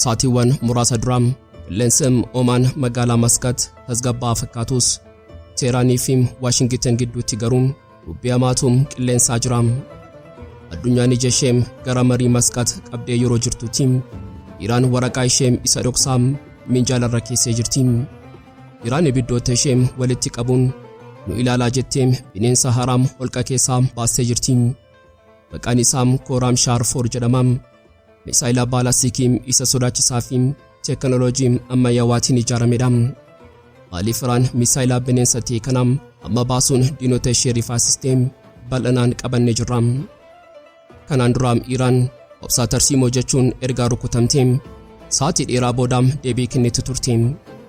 Saatiiwwan muraasa dura qilleensi Omaan magaalaa Maskat tasgabbaa'aa fakkaatus Teeraanii fi Waashingitan gidduutti garuu dubbii hamaatu qilleensaa jira. Addunyaan ija ishee gara marii Maskat qabdee yeroo jirtutti Iraan waraqaa ishee isa dhoksaa minjaala irra keessee jirti. Iraan ibiddoota ishee walitti qabuun nu ilaalaa jettee bineensa haraam holqa keessaa baastee jirti. Maqaan isaa Kooraam Shaarfoor jedhama. Misaayila baalaastikii isa sodaachisaa fi teekinooloojii ammayyaawaatiin ijaaramedha. Maaliif Iraan misaayila bineensa ta'e kana amma baasuun diinota ishee rifaasistee bal'inaan qabanne jirra. Kanaan dura Iraan obsaa tarsiimoo jechuun ergaa rukutamte sa'aatii dheeraa booda deebii kennitu turte.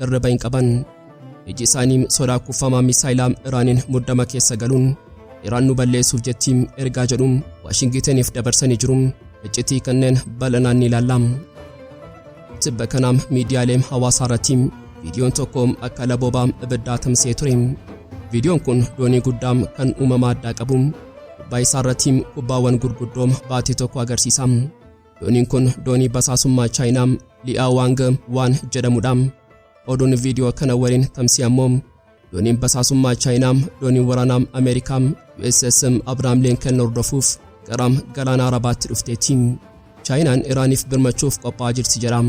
Hirriba hin qaban. Iji isaanii sodaa kuffamaa misaayilaa Iraaniin muddama keessa galuun Iraan nu balleessuuf jetti ergaa jedhu Waashingitaniif dabarsanii jiru. Iccitii kanneen bal'inaan ni ilaalla. Tibba kana miidiyaalee hawaasaa irratti viidiyoon tokko akka laboobaa ibiddaa tamsa'ee ture. Viidiyoon kun doonii guddaa kan uumama addaa qabu gubbaa isaa irratti kubbaawwan gurguddoo baate tokko agarsiisa. Dooniin kun doonii basaasummaa Chaayinaa Li'aa Waang waan jedhamudha. Oduun viidiyoo kana waliin tamsii ammoo dooniin basaasummaa Chaayinaa doonii waraanaa Ameerikaa USS Abrahaam Lincoln hordofuuf gara galaana Arabaatti dhufteetti. Chaayinaan Iraaniif birmachuuf qophaa'aa jirti jedha.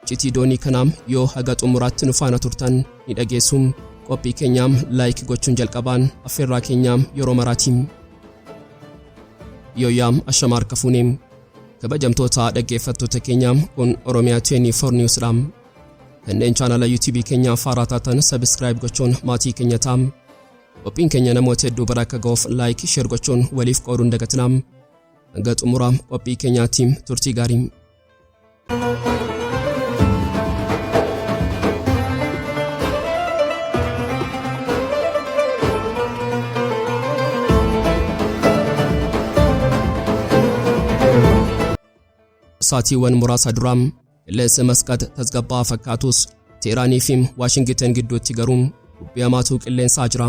Iccitii doonii kanaam yoo haga xumuraatti nu faana turtan ni dhageessuum. Qophii keenyaam like gochuun jalqabaan affeerraa keenyaam yeroo maraatiim. Yooyaam ashama harka fuuneem. Kabajamtoota dhaggeeffattoota keenyaam kun Oromiyaa 24 News dhaam. Kanneen chaanala YouTube keenyaa faaraa taatan subscribe gochuun maatii keenya taam. Qophiin keenya namoota hedduu bira akka ga'uuf like, share gochuun waliif qooduun dagatinaam. Hanga xumuraam qophii keenyaatiim turtii gaariim. Saatiiwwan muraasa dura qilleensa masqat tasgabbaa'aa fakkaatus Teeraanii fi Waashingiten gidduutti garuu dubbii hamaatu qilleensaa jira.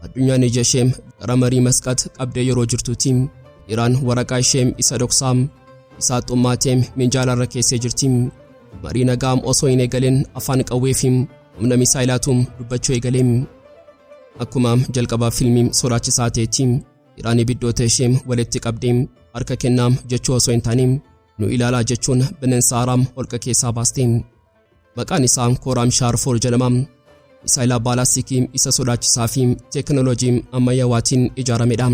Addunyaan ija ishee gara marii masqat qabdee yeroo jirtuuti. Iraan waraqaa ishee isa dhoksaa isaa xummaatee minjaala irra keessee jirti. Marii nagaa osoo hin eegalin afaan qawwee fi humna misaayilaatu dubbachuu eegale. Akkuma jalqabaa fiilmii sodaachisaa ta'etti Iraan ibiddoota ishee walitti qabdee harka kennaa jechuu osoo hin taane nu ilaalaa jechuun bineensa haaraam holqa keessaa baaste. Maqaan isaa Kooraam Shaarfool jedhama. Misaayila baalaastikii isa sodaachisaa fi teekinooloojii ammayyaawaatiin ijaaramedha.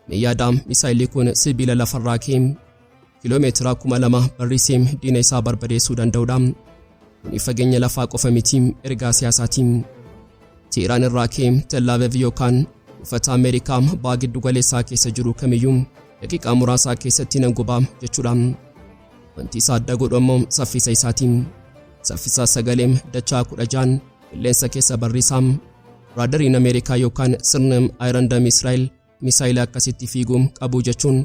Mee yaadaa misaayilli kun sibiila lafarraa kee kiloomeetira kuma lama barrisee diina isaa barbadeessuu danda'udha. Kuni fageenya lafaa qofa miti ergaa siyaasaatiin. Teeraan irraa kee Tellaavev yookaan uffata Ameerikaa baa giddu galeessaa keessa jiru kamiyyuu daqiiqaa muraasaa keessatti nan gubaa jechuudha. Wanti isa adda godhu ammoo saffisa isaati. Saffisa sagalee dachaa 16n qilleensa keessa barriisa. Raadariin Ameerikaa yookaan sirni Iron Dome Israa'el misaayila akkasitti fiigu qabu jechuun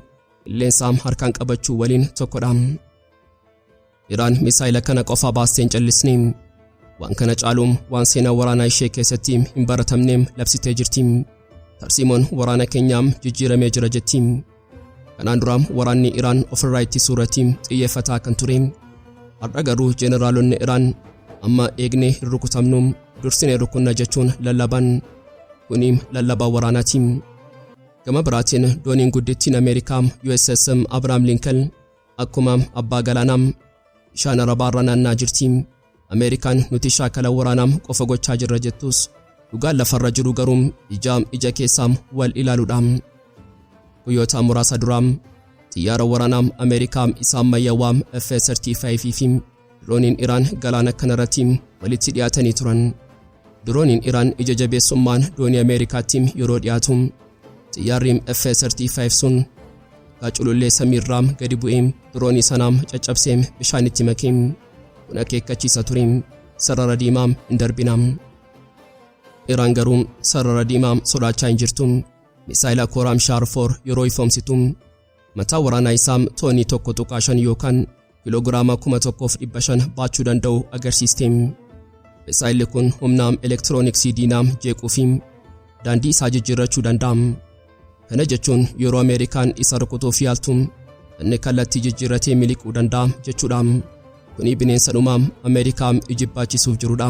qilleensa harkaan qabachuu waliin tokkodha. Iraan misaayila kana qofa baastee hin callisne. Waan kana caalu waan seenaa waraanaa ishee keessatti hin baratamne labsitee jirti. Tarsiimoon waraana keenyaa jijjiiramee jira jetti. Kanaan dura waraanni Iraan ofirraa ittisuu irratti xiyyeeffataa kan ture. Har'a garuu jeneraalonni Iraan amma eegnee hin rukutamnu dursinee rukunna jechuun lallaban. Kuni lallabaa waraanaati. Gama biraatiin dooniin guddittiin Ameerikaa USS Abrahaam Lincoln akkuma abbaa galaanaa bishaan Arabaarra naannaa jirti. Ameerikaan nuti shaakala waraanaa qofa gochaa jirra jettus dhugaan lafarra jiru garuu ijaa ija keessaa wal ilaaluudha. Guyyoota muraasa duraa xiyyaara waraanaa Ameerikaa isa ammayyawaa F-35 fi dirooniin Iraan galaana kanarratti walitti dhiyaatanii turan. Dirooniin Iraan ija jabeessummaan doonii Ameerikaatti yeroo dhiyaatu xiyyaarri F-35 sun gaculullee samiirraa gadi bu'ee diroonii sanaa caccabsee bishaanitti makee. Kun akeekkachiisa ture. Sarara diimaa hin darbinaa. Iraan garuu sarara diimaa sodaachaa hin jirtu. Misaayila Kooraam Shaar 4 yeroo ifoomsitu mataa waraanaa isaa toonii 1.5 yookaan kiloogiraama 1500 baachuu danda'u agarsiiste. Misaayilli kun humna elektirooniksii diinaa jeequu fi daandii isaa jijjiirrachuu danda'a. Kana jechuun yeroo Ameerikaan isa rukutuuf yaaltu inni kallattii jijjiirratee miliquu danda'a jechuudha. Kuni bineensa dhumaa Ameerikaa ijibbaachisuuf jirudha.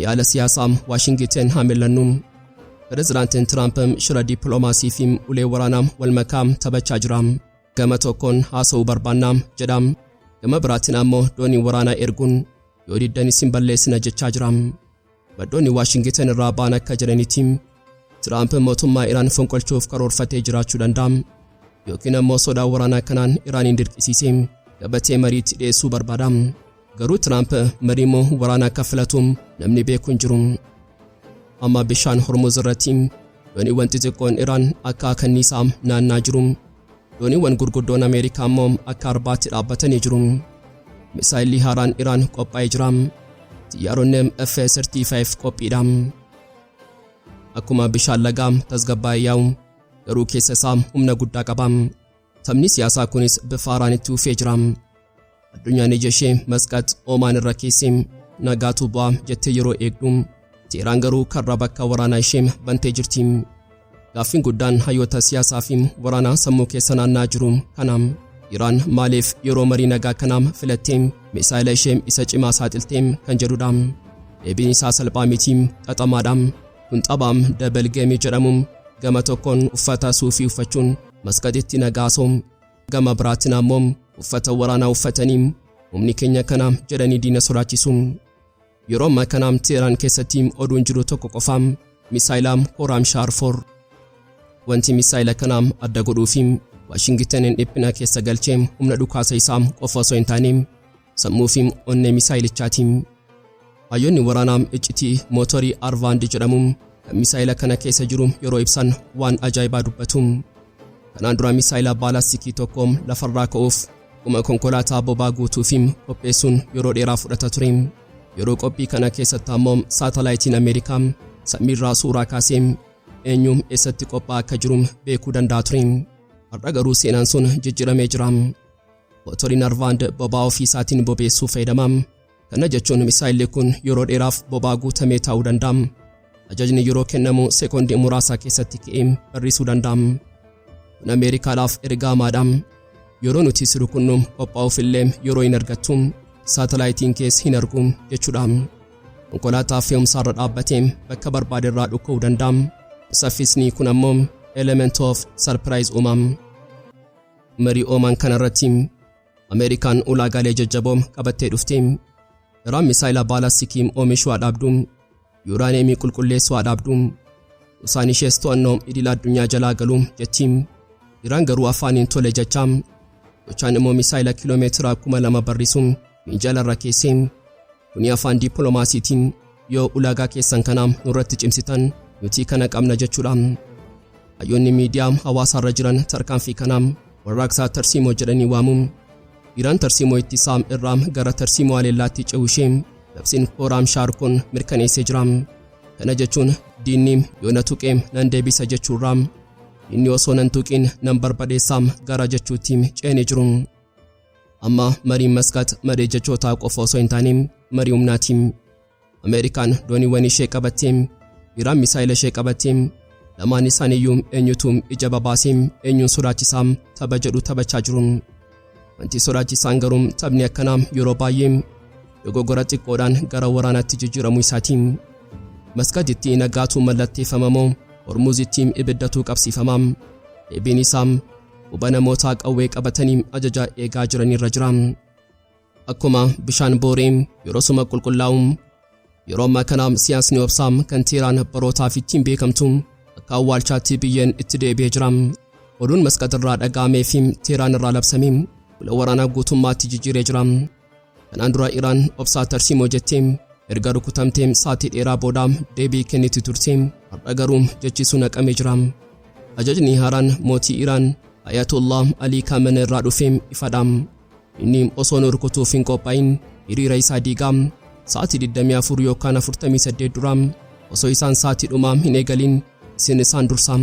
Yaala siyaasaa Waashingiten haa millannu. Pirezidaantiin Tiraamp shira dippiloomaasii fi ulee waraanaa wal makaa taphachaa jira. Gama tokkoon haasa'uu barbaanna jedha. Gama biraatiin ammoo doonii waraanaa erguun yoo diddan isin balleessina jechaa jira. Maddoonni Waashingitan irraa ba'an akka jedhanitti Tiraamp mootummaa Iraan fonqolchuuf karoorfatee jiraachuu danda'a yookiin ammoo sodaa waraanaa kanaan Iraaniin dirqisiisee gabatee mariitti dhiyeessuu barbaada. Garuu Tiraamp marii moo waraana akka filatu namni beeku hin jiru. Amma bishaan Hormuz irratti dooniiwwan xixiqqoon Iraan akka kanniisaa naannaa jiru. Dooniiwwan gurguddoon Ameerikaa immoo akka arbaatti dhaabbatanii jiru. Misaayilli haaraan Iraan qophaa'ee jira. Xiyyaaronni F-35 qophiidha. Akkuma bishaan lagaa tasgabbaa'ee yaa'u garuu keessa isaa humna guddaa qaba. Taphni siyaasaa kunis bifa haaraan itti fufee jira. Addunyaan ija ishee Masqat Oomaan irra keessee nagaatu bu'aa jettee yeroo eegdu Teeraan garuu karra bakka waraanaa ishee bantee jirti. Gaaffiin guddaan hayyoota siyaasaa fi waraanaa sammuu keessa naannaa jiru kana. Iraan maaliif yeroo marii nagaa kanaam filattee misaayila ishee isa cimaa saaxiltee kan jedhudha. Deebiin isaa salphaa miti xaxamaadha. Kun taphaam dabal geemii jedhamu gama tokkoon uffata suufii uffachuun masqaxitti nagaa soom Gama biraatiin ammoo uffata waraanaa uffatanii humni keenya kana jedhanii diina sodaachisu. Yeroo ammaa kana Teeraan keessatti oduun jiru tokko qofa misaayila Kooraam Shaar 4. Wanti misaayila kana adda godhuu fi Waashingitaniin dhiphina keessa galchee humna dhukaasa isaa qofa osoo hin taane Sammuu fi onnee misaayilichaatiin. Hayyoonni waraanaa iccitii mootorii Arvaand jedhamu kan misaayila kana keessa jiru yeroo ibsan waan ajaa'ibaa dubbatu. Kanaan dura misaayila baalastikii tokko lafarraa ka'uuf akkuma konkolaataa bobaa guutuu fi qopheessuun yeroo dheeraa fudhata ture. Yeroo qophii kana keessatti ammoo saatalaayitiin Ameerikaa samiirraa suuraa kaasee eenyu eessatti qophaa'aa akka jiru beekuu danda'a ture. Har'a garuu seenaan sun jijjiiramee jira. Motorri Narvaand boba'aa ofii isaatiin bobeessuu fayyadama. Kana jechuun misaayilli kun yeroo dheeraaf boba'aa guutamee taa'uu danda'a. Ajajni yeroo kennamu sekoondii muraasaa keessatti ka'ee barrisuu danda'a. Kun Ameerikaadhaaf erga hamaadha. Yeroo nuti si rukunnu qophaa'uuf illee yeroo hin argattu. Saatalaayitiin kees hin argu jechuudha. Konkolaataa fe'umsaarra dhaabbatee bakka barbaade irraa dhukka'uu danda'a. Saffisni kun ammoo element of surprise uuma. Marii Oomaan kanarratti Ameerikaan ulaagaalee jajjaboo qabattee dhufte. Iraan misaayila baalastikii oomishuu haa dhaabdu. Yuuraaniyeemii qulqulleessuu haa dhaabdu. Usaan ishees to'annoo idila addunyaa jalaa galu jetti. Iraan garuu afaaniin tole jecha. Gochaan immoo misaayila kiiloomeetira kuma lama barrisu miinjala irra keessee. Kuni afaan dippiloomaasiitiin yoo ulaagaa keessan kana nurratti cimsitan nuti kana qabna jechuudha. Hayyoonni miidiyaa hawaasaarra jiran tarkaanfii kana warraaqsaa tarsiimoo jedhanii waamu. Iraan tarsiimoo ittisaa irraa gara tarsiimoo haleellaatti ce'uu ishee labsiin Hooraam Shaar kun mirkaneessee jira. Kana jechuun diinni yoo na tuqe nan deebisa jechuurraa diinni osoo nan tuqiin nan barbadeessaam gara jechuutti ce'anii jiru. Amma mariin Maskaat maree jechootaa qofa osoo hin taane marii humnaati. Ameerikaan dooniiwwan ishee qabattee, Iraan misaayila ishee qabattee, lamaan isaaniiyyuu eenyutu ija babaasee eenyuun sodaachisaa tapha jedhu taphachaa jiru. Wanti sodaachisaan garuu taphni akkanaa yeroo baay'ee dogoggora xiqqoodhaan gara waraanaatti jijjiiramuu isaati. Maskaatitti nagaatu mallatteeffama moo Hormuuzitti ibiddatuu qabsiifama? Deebiin isaa Quba namootaa qawwee qabatanii ajajaa eegaa jiranirra jira. Akkuma bishaan booree yeroo suma qulqullaa'u yeroo ammaa kana siyaasni obsaa kan Teeraan barootaaf ittiin beekamtu akka awwaalchaatti biyyeen itti deebi'ee jira. Oduun masqaxirraa dhaga'amee fi Teeraan irraa labsame bula waraanaa guutummaatti jijjiiree jira. Kanaan dura Iraan obsaa tarsiimoo jettee erga rukutamtee saatii dheeraa booda deebii kenniti turte. Har'a garuu jechi sun haqamee jira. Ajajni haaraan mootii Iraan Ayatollah Alii Kaamena irraa dhufe ifadha. Inni osoo nu rukutuuf hin qophaa'in hiriira isaa diigaa saatii 24 yookaan 48 dura osoo isaan saatii dhumaa hin eegalin isin isaan dursa.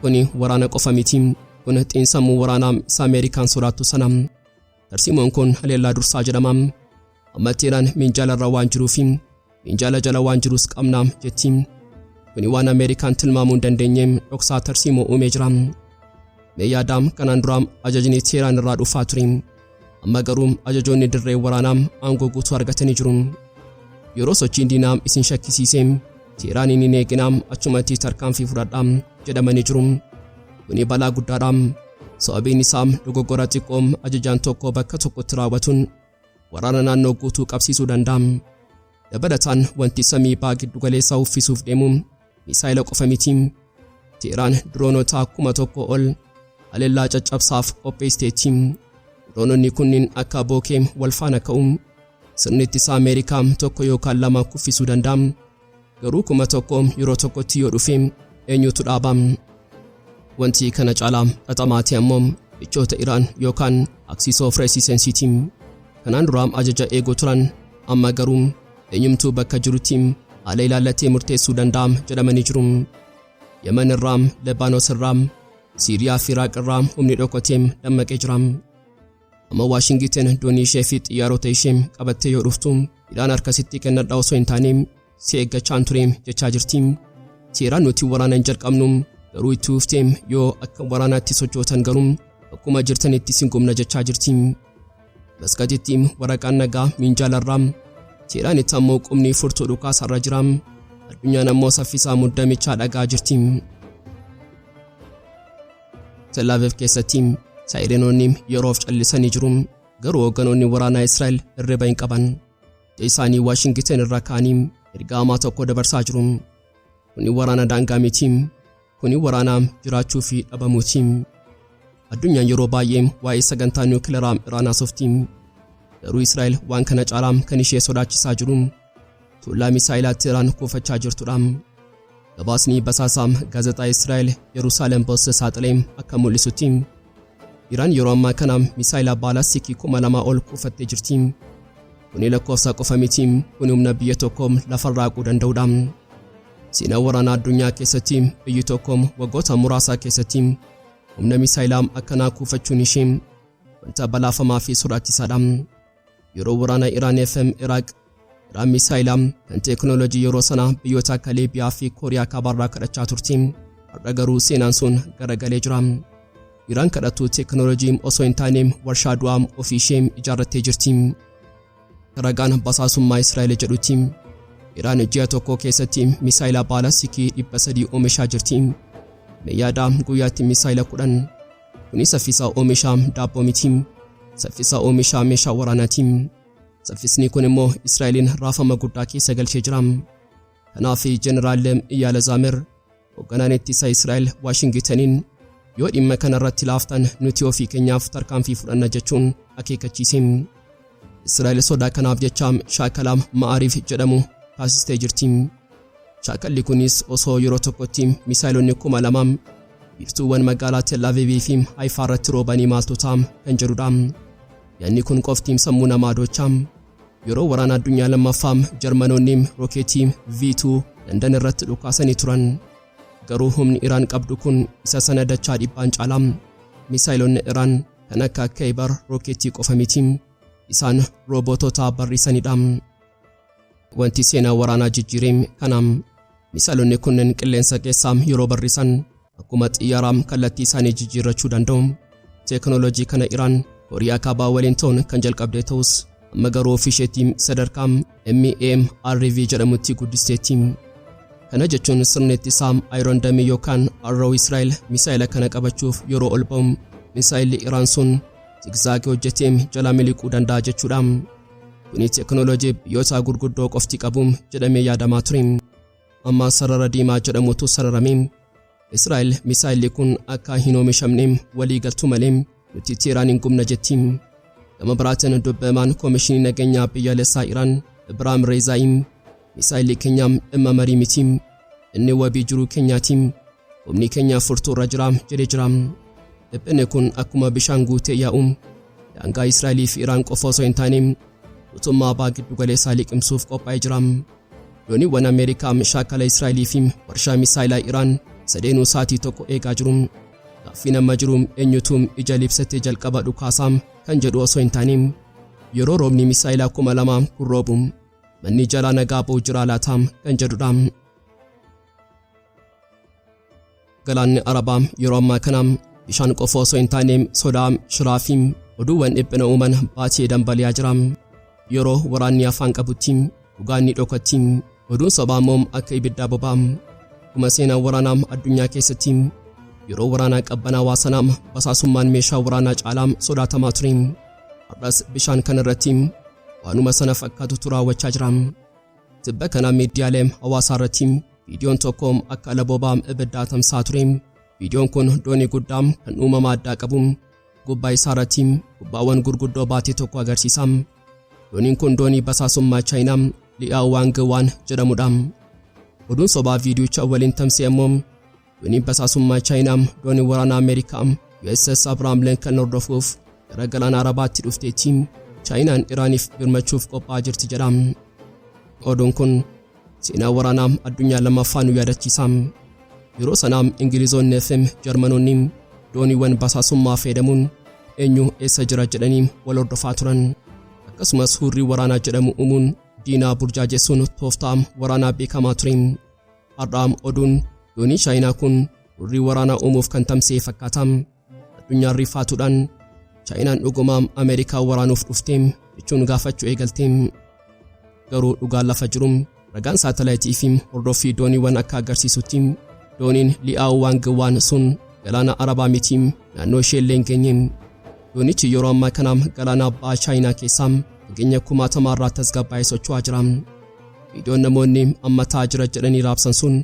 Kuni waraana qofa miti. Kun xiinsammuu waraanaa isa Ameerikaan sodaattu sana. Tarsiimoon kun haleellaa dursaa jedhama. Amma Teeraan minjaala irra waan jiruu fi minjaala jala waan jirus qabna jetti. Kuni waan Ameerikaan tilmaamuu hin dandeenye dhoksaa tarsiimoo uumee jira. Mee yaadaa kanaan dura ajajni Teeraan irraa dhufaa ture. Amma garuu ajajoonni dirree waraanaa aangoo guutuu argatanii jiru. Yeroo sochiin diinaa isin shakkisiise Teeraaniin hin eeginaa achumatti tarkaanfii fudhadhaa jedhamanii jiru. Kuni balaa guddaadha. Sababiin isaa dogoggora xiqqoo ajajaan tokko bakka tokkotti raawwatuun waraana naannoo guutuu qabsiisuu danda'a. Dabalataan wanti samii baa giddugaleessaa uffisuuf deemu misaayila qofa miti. Teeraan diroonota kuma tokko ol haleellaa caccabsaaf qopheesiteetti. Diroononni kunniin akka bookee wal faana ka'u. Sirni ittisaa Ameerikaa tokko yookaan lama kuffisuu danda'a. Garuu kuma tokko yeroo tokkotti yoo dhufe eenyutu dhaaba? Wanti kana caalaa xaxamaati ammoo michoota Iraan yookaan Axis of Resistance Kanaan dura ajaja eeguu turan amma garuu eenyumtuu bakka jirutti haala ilaallatee murteessuu danda'a jedhamanii jiru. Yaman irraa, Lebaanos irraa, Siiriyaa fi Iraaq irraa humni dhokoteem dammaqee jira. Amma Waashingiten doonii ishee fi xiyyaarota ishee qabattee yoo dhuftu hidhaan harka sitti kennadha osoo hin taane si eeggachaan ture jechaa jirti. Seeraan nuti waraana hin jalqabnu garuu itti fuftee yoo akka waraanaatti sochootan garuu akkuma jirtanitti sin gumna jechaa jirti. Maskatitti waraqaan nagaa minjaalarraa seeraan itti ammoo qubni furtuu dhukaasarra jira. Addunyaan ammoo saffisaa muddamichaa dhagaa jirti. Telaaviv keessatti saayirenoonni yeroof callisanii jiru. Garuu hoogganoonni waraanaa Israa'el hirriba hin qaban. Ija isaanii Waashingiten irraa ka'anii ergaa hamaa tokko dabarsaa jiru. Kuni waraana daangaa miti. Kuni waraana jiraachuu fi dhabamuuti. Addunyaan yeroo baay'ee waa'ee sagantaa niwukilaraa Iraan haasofti. Garuu Israa'el waan kana caalaa kan ishee sodaachisaa jiru Tullaa misaa'ilaatti Iraan kuufachaa jirtudha. Gabaasni basaasaa gaazexaa Israa'el Yerusaalem Post saaxilee akka mul'isutti Iraan yeroo ammaa kana misaayila baalaastikii kuma lamaa ol kuufattee jirti. Kuni lakkoofsa qofa miti, kuni humna biyya tokko lafarraa haquu danda'udha. Seenaa waraanaa addunyaa keessatti biyyi tokko waggoota muraasaa keessatti humna misaayilaa akkanaa kuufachuun ishee wanta balaafamaa fi sodaachisaadha. Yeroo waraana Iraan FM Iraaq Iraan misaayilaa kan teeknooloojii yeroo sana biyyoota akka Liibiyaa fi Kooriyaa kaabaarraa kadhachaa turti. Har'a garuu seenaan sun garagalee jira. Iraan kadhattuu teeknooloojii osoo hin taane warshaa du'aa ofii ishee ijaarrattee jirti. Ragaan basaasummaa Israa'el jedhutti Iraan ji'a tokko keessatti misaayilaa baalastikii 300 oomishaa jirti. Mee yaadaa guyyaatti misaayila 10 Kuni saffisa oomishaa daabboo miti. Saffisa oomishaa meeshaa waraanaati. Saffisni kun immoo Israa'eliin raafama guddaa keessa galchee jira. Kanaaf Jeneraal Iyaala Zaamir hoogganaan ittisa Israa'el Waashingitaniin yoo dhimma kana irratti laaftan nuti ofii keenyaaf tarkaanfii fudhanna jechuun akeekkachiise. Israa'el sodaa kanaaf jecha shaakala Ma'aariif jedhamu taasistee jirti. Shaakalli kunis osoo yeroo tokkotti misaayilonni kuma lama biiftuuwwan magaalaa Tel Aviv fi Haifaa irratti roobanii maaltu ta'a kan jedhudha. Yaadni kun qofti sammuu namaa docha. Yeroo waraana addunyaa lammaffaa Jarmanoonni rookeetii V2 Landan irratti dhukaasanii turan. Garuu humni Iraan qabdu kun isa sana dachaa dhibbaan caala. Misaayilonni Iraan kan akka Kaybar rookeetii qofa miti. Isaan roobootota barriisanidha. Wanti seenaa waraanaa jijjiire kana. Misaa'elonni kunneen qilleensa keessaa yeroo barrisan akkuma xiyyaaraa kallattii isaanii jijjiirrachuu danda'u. Teeknooloojii kana Iraan Kooriyaa Kaabaa waliin ta'uun kan jalqabde ta'us amma garuu ofii isheetti sadarkaa MAMRV jedhamutti guddisteetti. Kana jechuun sirni ittisaa Iron Dome yookaan Arrow Israa'el misaa'ela kana qabachuuf yeroo ol ba'u misaa'elli Iraan sun zigzaagii hojjetee jalaa miliquu danda'a jechuudha. Kunis teknooloojii biyyootaa gurguddoo qofti qabu jedhamee yaadamaa ture. Amma sarara diimaa jedhamutu sararame. Israa'el misaayilli kun akka hin oomishamne walii galtu malee nuti Teeraan hin gubna jetti. Gama biraatiin dubbamaan Koomishinii Nageenyaa Biyyaalessaa Iraan Ibraahim Reezaayiin misaayilli keenya dhimma marii miti. Inni wabii jiruu keenyaati. Humni keenya furtuu irra jira jedhee jira. Dhiphinni kun akkuma bishaan guutee yaa'u daangaa Israa'elii fi Iraan qofa osoo hin taane guutummaa abaa giddu galeessaa liqimsuuf qophaa'ee jira. Dooniiwwan Ameerikaa shaakala Israa'elii fi warshaa misaayilaa Iraan sadeenuu sa'aatii tokko eegaa jiru. Gaaffiin amma jiru eenyutu ija libsatee jalqaba dhukaasaa kan jedhu osoo hin taane yeroo roobni misaayilaa kuma lamaa kun roobu Manni jalaa nagaa ba'u jiraa laata kan jedhudha. Galaanni Arabaa yeroo ammaa kana bishaan qofa osoo hin taane sodaa, shiraa fi oduuwwan dhiphina uuman baatee dambali'aa jira. Yeroo waraanni afaan qabutti dhugaan ni dhokatti. Oduun sobaa immoo akka ibiddaa boba'a. Akkuma seenaa waraanaa addunyaa keessatti yeroo waraanaa qabbanaawaa sanaa basaasummaan meeshaa waraanaa caalaa sodaatamaa ture. Har'as bishaan kana irratti waanuma sana fakkaatutu raawwachaa jira. Tibba kana miidiyaalee hawaasaa irratti viidiyoon tokko akka alaboobaa ibiddaa tamsaa ture. Viidiyoon kun doonii guddaa kan uumama addaa qabu gubbaa isaa irratti kubbaawwan gurguddoo baatee tokko agarsiisa. Dooniin kun doonii basaasummaa Chaayinaa Li'aa Waang Waan jedhamudha. Oduun sobaa viidiyicha waliin tamsa'e immoo Dooniin basaasummaa Chaayinaa doonii waraanaa Ameerikaa USS Abrahaam Lincoln hordofuuf gara galaana Arabaatti dhufteetti. Chaayinaan Iraaniif birmachuuf qophaa'aa jirti jedha. Oduun kun seenaa waraanaa addunyaa lammaffaa nu yaadachiisa. Yeroo sana Ingilizoonni FM Jarmanoonni dooniiwwan basaasummaa fayyadamuun eenyu eessa jira jedhanii wal hordofaa turan. Akkasumas hurrii waraanaa jedhamu uumuun diinaa burjaajessuun tooftaa waraanaa beekamaa ture. Har'aam oduun dooniin Chaayinaa kun hurrii waraanaa uumuuf kan tamsa'e fakkaata. Addunyaan rifaatuudhaan Chaayinaan dhugumaam Ameerikaa waraanuuf dhufte jechuun gaafachuu eegalte. Garuu dhugaan lafa jiru ragaan saatalaayitii fi hordoffii dooniiwwan akka agarsiisutti dooniin Li'aawu Waang Waan sun galaana Arabaa miti naannoo ishee illee hin geenye. Doonichi yeroo ammaa kana galaana abbaa Chaayinaa keessaa fageenya kumaatamaa irraa tasgabbaa'ee socho'aa jira. Viidiyoon namoonni amma ta'aa jira jedhanii raabsan sun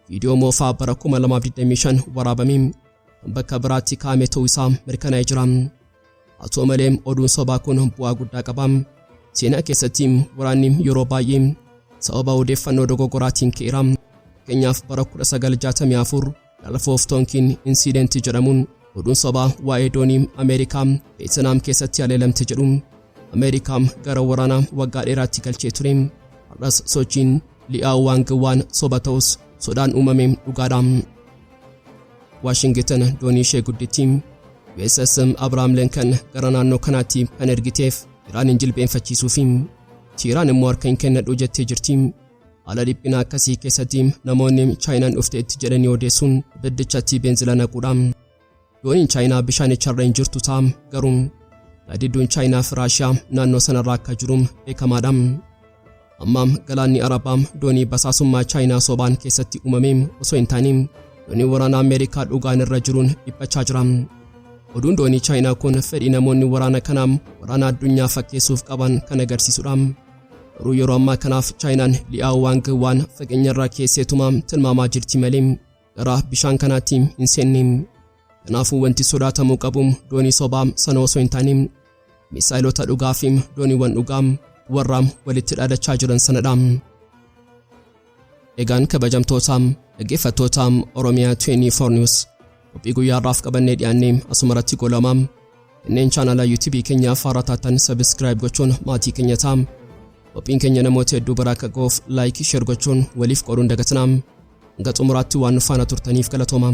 viidiyoo moofaa bara 2025 waraabamee kan bakka biraatti kaa'ame ta'uu isaa mirkanaa'ee jira. Haa ta'u malee oduun sobaa kun bu'aa guddaa qaba. Seenaa keessatti waraanni yeroo baay'ee sababa odeeffannoo dogoggoraatiin ka'eera. Fakkeenyaaf bara 1964 Gulf of Tonkin Incident jedhamuun oduun sobaa waa'ee doonii Ameerikaa Veetinaam keessatti haleelamte jedhu Ameerikaa gara waraanaa waggaa dheeraatti galchee ture. Har'as sochiin Li'aaw Waang waan soba ta'us sodaan uumame dhugaadha. Waashingitan doonii ishee guddittii USS Abrahaam Linkan gara naannoo kanaatti kan ergiteef Iraaniin jilbeenfachiisuufi Tiiraan immoo harka hin kennadhu jettee jirti. Haala dhiphina akkasii keessatti namoonni Chaayinaan dhufteetti jedhanii odeessuun ibiddichatti beenzila naquudha. Dooniin Chaayinaa bishaanicharra hin jirtu ta'a garuu gaadidduun Chaayinaa fi Raashiyaa naannoo sanarra akka jiru beekamaadha. Amma galaanni Arabaa doonii basaasummaa Chaayinaa sobaan keessatti uumame osoo hin taane doonii waraanaa Ameerikaa dhugaan irra jiruun dhiphachaa jira. Oduun doonii Chaayinaa kun fedhii namoonni waraana kanaa waraana addunyaa fakkeessuuf qaban kan agarsiisudha. Garuu yeroo ammaa kanaaf Chaayinaan Li'aaw Waang waan fageenyarraa keesseetuma tilmaamaa jirti malee gara bishaan kanaatti hin seenne. Kanaafuu wanti sodaatamuu qabu doonii sobaa sana osoo hin taane misaayilota dhugaa fi dooniiwwan dhugaa warraa walitti dhaadachaa jiran sanadha. Egaan kabajamtootaam dhaggeeffattootaam Oromiyaa 24 News qophii guyyaa har'aaf qabannee dhiyaannee asuma irratti goolamaam kanneen chaanala YouTube keenyaaf haaraa taatan subscribe gochuun maatii keenya taam qophiin keenya namoota hedduu biraa akka ga'uuf like share gochuun waliif qooduun dagatinaam hanga xumuraatti waan nu faana turtaniif galatoomaa